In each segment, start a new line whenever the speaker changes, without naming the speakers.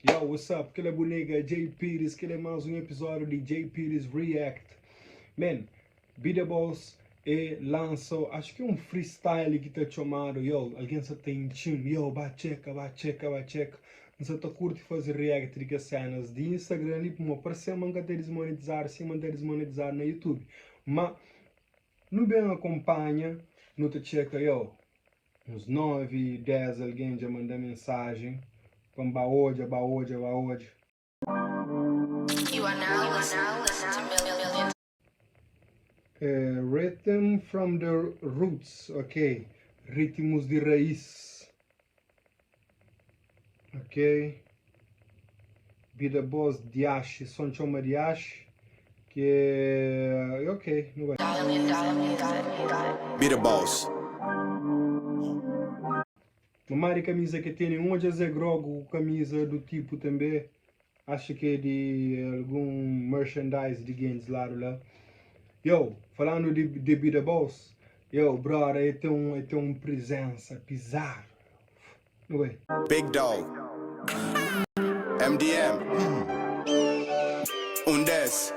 Yow what's up kila bu nega Jay Pires kila é más un episódio di Jay Pires React man bida bos é lansa acho ki é un freestyle ki ta txomadu yow algen sa ta intxi-m yow ba txeka ba txeka ba txeka n sa ta kurti faze react di kes sénas di Instagram li puma par se ma n ka ta dismonetizadu sima n ta dismonetizadu na YouTube ma nu ben akonpanha nu ta txeka yow. Uns nove, dés algen dja manda mensajen pa-m ba odja, ba odja, ba odja. Rhythm from the roots, ok, Ritmus di Raís. Ok. Bida bos diaxi, son txeu ma diaxi ke e ok, nu bai. Bida bos. Mamari kamiza ke tene un odja zé grogu ku kamiza du tipu tanbe Acha ki é di algun merchandise di gentis lá do lá. Yow, falando di bebida bos, yow brother el tem um, el tem um presença pisado. Não é? Big Dog MDM Um des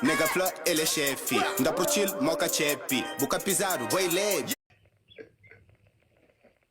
Nega fla el é chefe Nda pro chill, moca chepe Bu ka pisado, boy leve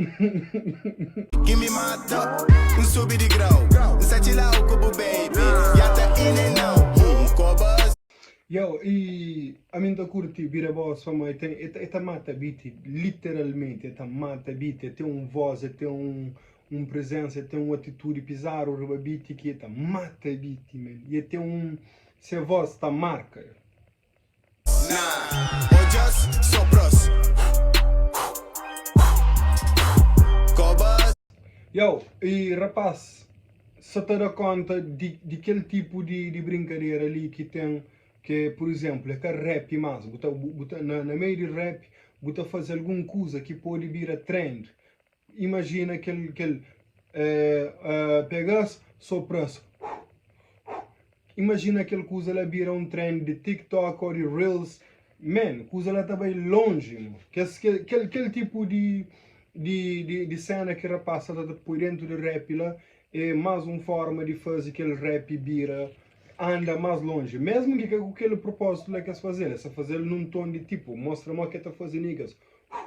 Give me my top, N subi di grau N sa txila'u ku bu baby Ya ta in and out, uh, N koba as. Yo, i ami N ta kurti bira bo so ma e ten e ta mata biti literalmenti e ta mata biti e ten un voz e ten un un prezensa e ten un atitudi pizarru riba biti ki e ta mata biti man e ten un se voz ta marka yo. Yow, e rapaz sa ta da konta di kel tipu di brinkadera li ki ten ke, pur izénplu, e ka rap más, bu ta, bu ta, na meiu di rap, bu ta faze algun kuza ki pode bira trend, Imajina kel, kel uh, pega-s, sopra-s. Imajina kel kuza la bira un trend de TikTok ou de Reels. Man, kuza la ta bai longe, mo. Kes, kel, kel, kel tipo de, de, de, de cena ki rapaz sa ta ta poi dentro de rap la é mais um forma de faze kel rap bira, anda mais longe. Mesmo ki ka ku kel propósito la ki es faze-l, es ta faze-l num tom de tipo, mostra mo ke ta faze niggas, uh,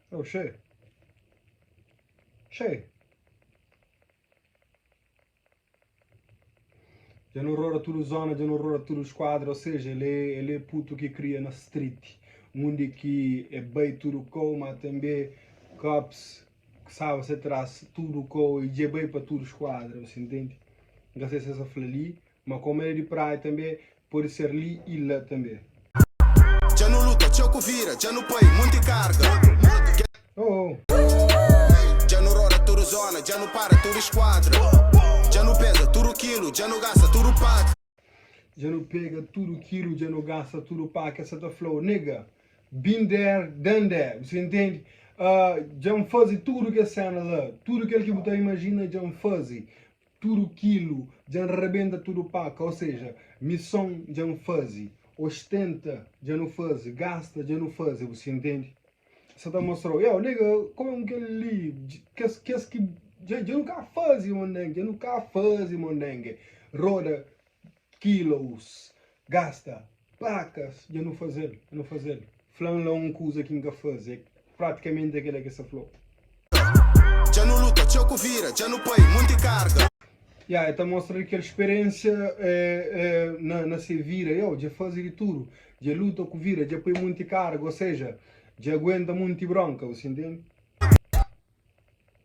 Oh, xê! Xê! Dja nu rora tudu zona, dja nu rora tudu skuadra, ou seja, el é, el é putu ki kria na street, undi ki é bai tudu kou, ma tanbê cops ki staba se tras tudu kou, e dja é bai pa tudu skuadra, bu ta intende? Nka sei si es ta fla li, Ma kómu el é di praia tanbê, pode ser li i la tanbê. Dja nu luta txeu ku vida, dja nu poi monti karga. Dja nu roda tudu zona, dja nu para tudu skuadra. Dja nu peza tudu kilu, dja nu gasta tudu pa ki. Dja nu pega tudu kilu, dja nu gasta tudu pa ki. El sta ta fla-u, Nigga, been there, done that. Bu sta intende? Dja N faze tudu kes séna la. Tudu kel ki bu ta imajina, dja N faze. Tudu kilu dja N rebenta tudu paka, o seja, mison dja N faze, ostenta dja nu faze, gasta dja nu faze, bu sta intende? Sa ta mostra-u, eo, nega, kome un kel li, kes kes ki dja nu ka faze, mondenge, dja nu ka faze, mondenge, roda Kilos, gasta, plakas, dja nu faze-l, dja nu faze-l Fla-m la un kuza ki N ka faze É pratikamenti kel la ki es ta fla-u Dja nu luta txeu ku vida Dja nu pai monti karga. Ya, el ta mostra li kel spiriénsia na se vida Iau dja faze di tudu Dja luta ku vida Dja pai monti karga Ô seja, dja aguenta monti brónka Bu siente-m?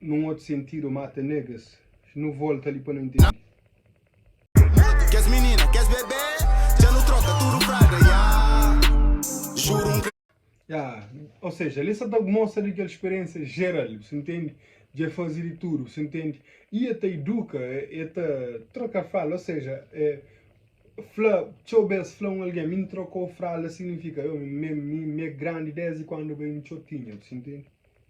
Nun otu sentido mata negas. Nu volta li pa nu intendi. Kes minina kes bebê dja nu troka tudu fraga ya juru n. Ya ou seja li sa ta mostra di kel speriensia jeral bu sa intendi dja fazi di tudu bu sa intendi i e ta iduka e ta troka fralda ou seja e fla txeu bes fla un algen mi n trokau fralda signifika io mi mi mi é grandi desdi kuandu bai n txotinha bu sa intendi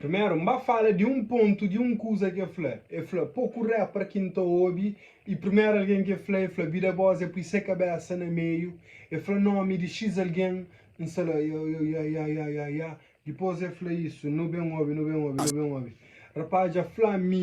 Primeru, N ba fala di un pontu di un kuza ki el fla. El fla, Poku rapper ki N ta obi, i primeru algen ki el fla, el fla Bida Boss, el pui se kabésa na meiu, el fla nómi di X algen, N sa la, Yo, yo, ya, ya, ya, ya, ya. Dipôs el fla isu, Nu ben obi, nu ben obi, nu ben obi. Rapaz dja fla-m mi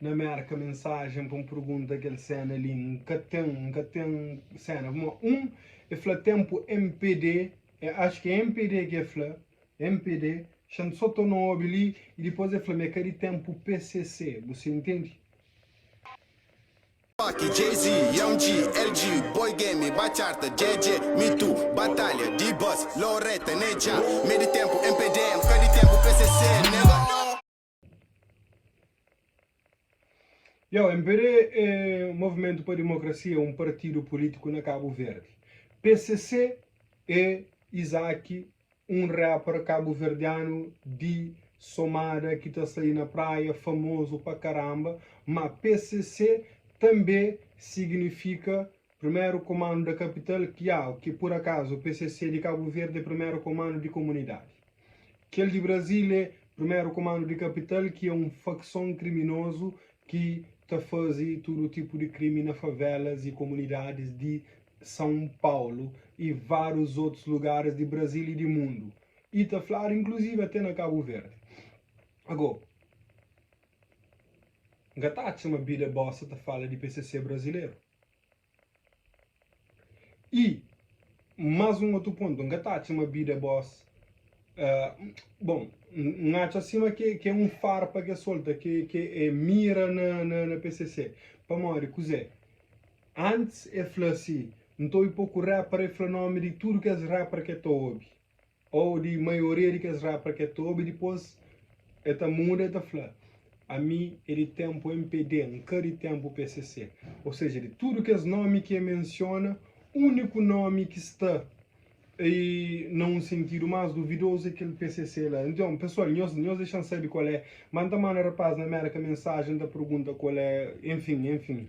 Na Mérka mensajen pa un pergunta kel séna li N ka ten, N ka ten séna ma un e fla tenpu MPD e ax ke MPD ke fla MPD xan so to na obi li e dipos e fla me ka di tenpu PCC bu se intendi. Tupac, Jay-Z, Young G, LG, Boy Game, Bachata, JJ, Me Too, Batalha, D-Boss, Loretta, Ney, Jah, me di tenpu MPD, N ka di tenpu PCC, nega. Yo, MPD é Movimentu pa Dimokrasia, é un partidu pulítiku na Kabu Verdi. PCC é Izaki, un rapper kabuverdianu di somada ki ta sai na praia, famozu pa karanba. Má PCC tanbê siginifika Primeru Komandu da Kapital Kiau, ki pur akazu PCC di Kabu Verdi é Primeru Komandu di Komunidadi. Kel di Brazil é Primeru Komandu di Kapital ki é un fakson kriminozu ki ta fazi tudu tipu di krimi na favelas y komunidadis di São Paulo y várius otus lugaris di Brazil y di mundu y ta fladu inkluzivi até na Kabu Verdi. Ago, N ka ta atxa ma bida bosa ta fala di PCC brazileru. I más un otu pontu, N ka ta atxa ma bida bos Bon, N atxa sima ki é un farpa ki es solta, ki é mira na pcc. Pamodi kuzé? Antis el fla si, N ta obi poku rapper, el fla nómi di tudu kes rapper ki el ta obi. Ô di maioria di kes rapper ke ta obi dipôs e ta muda e ta fla ami e di tenpu MPD nka di tenpu PCC ô seja di tudu kes nomi ke mensiona uniku nomi ki sta ei na un sentidu mas duvidozu e kel PCC la nton pesual nhos nhos dexan sabi kual é ma nta manda rapaz na Mérka mensaji nta pergunta kual é enfim enfim.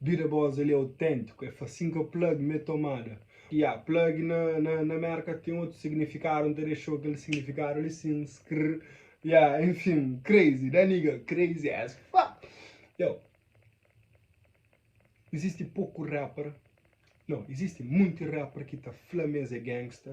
Bira bos ali autentiku é fasin ka plug me tomada. Ya plug na na merka ten otu signifikadu n ta dexou kel signifikadu ali sin skr ya enfim crazy da nigga crazy as fuck yo izisti poku rapper no izisti munti rapper ki ta fla mes é gangsta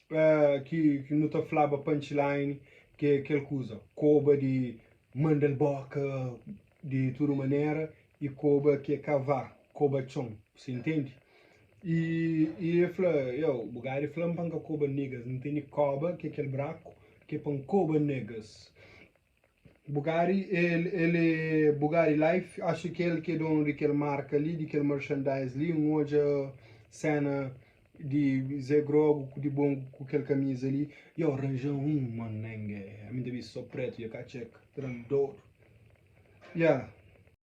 ki ki nu ta flaba punchline ke kel kuza koba di mandal boka di tudu manera i koba ke kavá koba txon si ntende i i e fla eo bu gari flam pa nka koba niggas ntende koba ke kel braku ke pa nkoba niggas Bugatti el é Bugatti life acha ki el ki é donu di kel marka li di kel merchandise li n odja cena di Zé grogu ku di bongu ku kel kamiza li yo ranja un manenge ami ta bisti so pretu yo ka txeka ta da-m dodu yeah.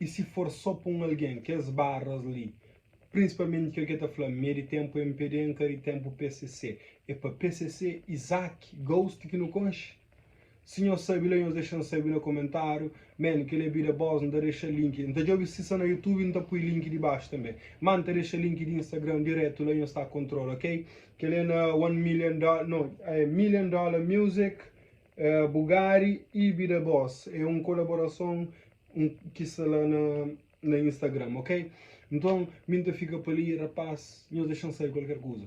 I si for so pa un algen kes barras li prinsipalmenti kel ke ta fla mi e di tempu MPD nka di tempu PCC e pa PCC Isaac Ghost ki nu konxi si nhos sabi la nhos dexan sabi na komentariu man kel e bida bos nta dexa link nta djobe si sa na youtube nta pui link di baxu tanbe ma nta dexa link di instagram diretu la nhos ta kontrola ok kel e na one million dollar no million dollar music Bugari ibi da bos é un kolaborason ki sta la na instagram ok nton mi nta fika pali rapaz nhos dexan sai kualker kuza.